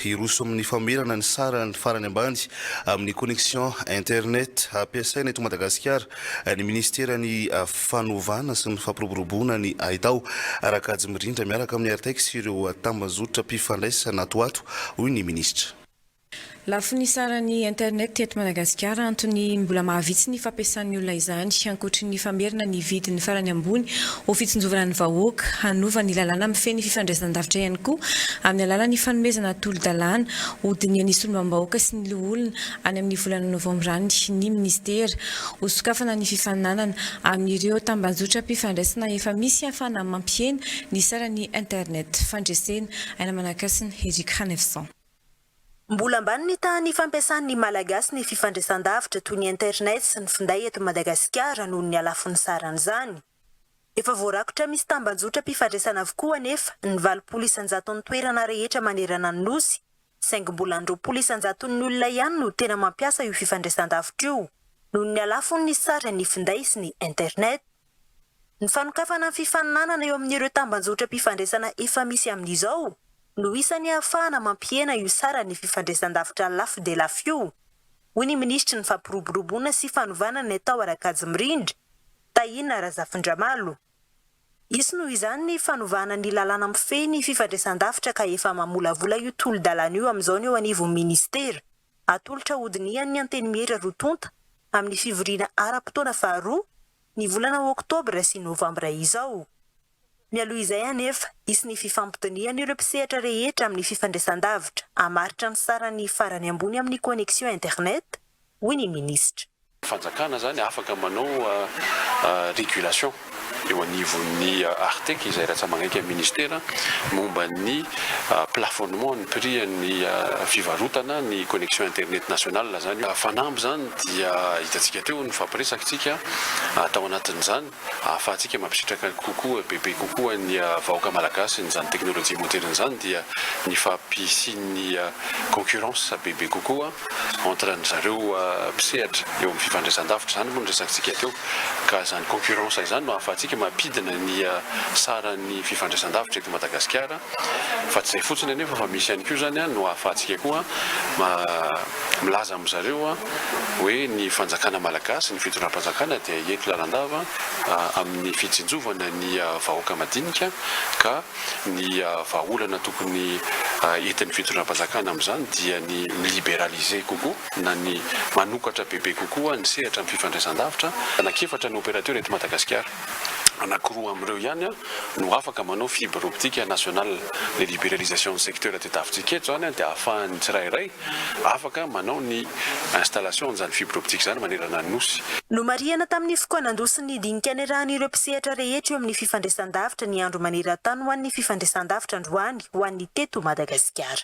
Hiroso amin'ny famerana ny sarany farany ambany amin'ny connexion internet hampiasaina eto Madagasikara ny Minisiteran'ny Fanovana sy ny Fampiroboroboana ny Haitao, Rakajy Mirindra miaraka amin'ny Artex sy ireo tambazotra mpifandraisana ato ho ato, hoy ny Minisitra. Lafiny saran'ny internet eto Madagasikara, antony mbola mahavitsy ny fampiasan'ny olona izany, ankoatry ny famerina ny vidiny farany ambony ho fitsinjovana ny vahoaka, hanova ny lalàna mifehy ny fifandraisan-davitra ihany koa amin'ny alalan'ny fanomezana tolo-dalàna ho dinihan'ny solombambahoaka sy ny loholona any amin'ny volana novambra any ny minisitera ho sokafana ny fifaninanana amin'ireo tambajotram-pifandraisana efa misy ahafahana mampihena ny saran'ny internet fandresena aina manankasina Eric Khanefson. Mbola ambany ny tahan'ny fampiasan'ny Malagasy ny fifandrisan-davitra toy ny internet sy ny finday eto Madagasikara noho ny halafon'ny saran'izany. Efa voarakotra misy tambanjotram-pifandraisana avokoa anefa ny valopolo isan-jaton'ny toerana rehetra manerana ny Nosy saingy mbola ny roapolo isan-jaton'ny olona ihany no tena mampiasa io fifandraisan-davitra io noho ny halafon'ny saran'ny finday sy ny internet. Ny fanokafana ny fifaninanana eo amin'ireo tambanjotram-pifandraisana efa misy amin'izao no isan'ny ahafahana mampihena io saran'ny fifandraisan-davitra lafo dia lafo io, hoy ny minisitry ny Fampiroboroboana sy fanovana ny atao Arakajy Mirindra, Tahina Razafindramalo. Hisy noho izany ny fanovana ny lalàna mifehy ny fifandraisan-davitra ka efa mamolavola io tolo-dalàna io amin'izao ny eo anivon'ny minisitera. Atolotra hodinihan'ny Antenimiera roa tonta amin'ny fivoriana ara-potoana faharoa ny volana oktobra sy novambra izao. Mialoha izay anefa, hisy ny fifampidinihan'ireo mpisehatra rehetra amin'ny fifandraisandavitra hamaritra ny sarany farany ambony amin'ny connexion internet, hoy ny minisitra. Fanjakana zany afaka manao régulation eo anivon'ny Artec izay ratsamagainky amin'ny ministera momba ny plafonnement ny prix an'ny fivarotana ny connexion internet nationale zany io. Fanamby zany dia hitantsika teo ny nifampiresakitsika tao anatin'izany. ahafahantsika mampisitraka kokoa, bebe kokoa ny vahoaka malagasy n'izany teknolojia moderina izany dia ny fampisian'ny concurrence bebe kokoa entre ny zareo mpisehatra eo amin'ny fifandraisandavitra, izany moa no resakintsika teo ka izany concurrence izany no ahafahantsika mampidina ny saran'ny fifandraisandavitra eto Madagasikara. Fa tsy izay fotsiny anefa fa misy ihany koa izany no ahafahantsika koa milaza amin'zareo hoe ny fanjakana malagasy, ny fitondram-panjakana dia hiety lalandava amin'ny fitsinjovana ny vahoaka madinika ka ny vahaolana tokony entin'ny fitondram-panjakana amin'izany dia ny mi-liberaliser kokoa na ny manokatra bebe kokoa ny sehatra amin'ny fifandraisandavitra. Anak'efatra ny opérateur eto Madagasikara, anankiroa amin'ireo ihany no afaka manao fibre optique nationale, le liberalisation ny secteur tadiavintsika eto zany dia ahafahan'ny tsirairay afaka manao ny installation an'izany fibre optique zany manerana ny Nosy. Nomarihana tamin'ny fokoanan-dosy ny dinika niarahan'ireo mpisehatra rehetra eo amin'ny fifandraisandavitra ny Andro maneran-tany ho an'ny fifandraisandavitra androany ho an'ny teto Madagasikara.